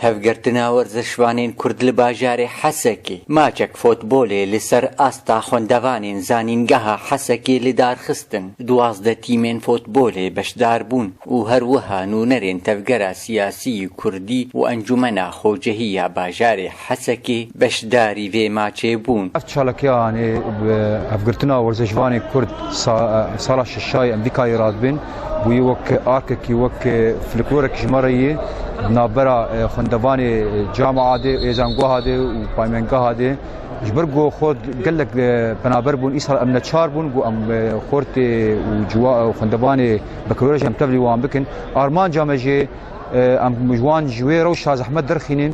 Hevgirtina werzişvanên Kurd li bajarê Hesekê, maçek fotbolê li ser asta xwendevanên Zanîngeha Hesekê lidarxistin. Duwazdeh tîmên fotbolê beşdar bûn û her wiha nûnerên Tevgera Siyasî yê Kurdî û Encûmena Xocehî ya bajarê Hesekê beşdarî vê maçê bûn. Ev çalakiya anî bi hevgirtina werzêşvanê kurd sala şişayê Emrîkayê re dibin, bûye wek arkekî, wek fliklorek ji me re yê. Di navbera xwendevanê camia de, êzangeha de û paymengeha de ji ber ku xwe gelek penaber bûn îsal em neçar bûn ku em xortê û xwendevanê bekirorej em tevlî wan bikin. Armanca me jî em ji wan ji wê rewşa zehmet derxînin.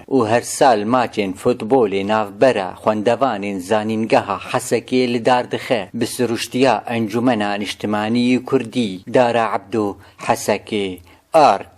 û her sal maçên futbolê navbera xwendevanên Zanîngeha Hesekê li dar dixe bi siruştiya Encûmena Niştimanî yê Kurdî, Dara Ebdo, Hesekê, ark.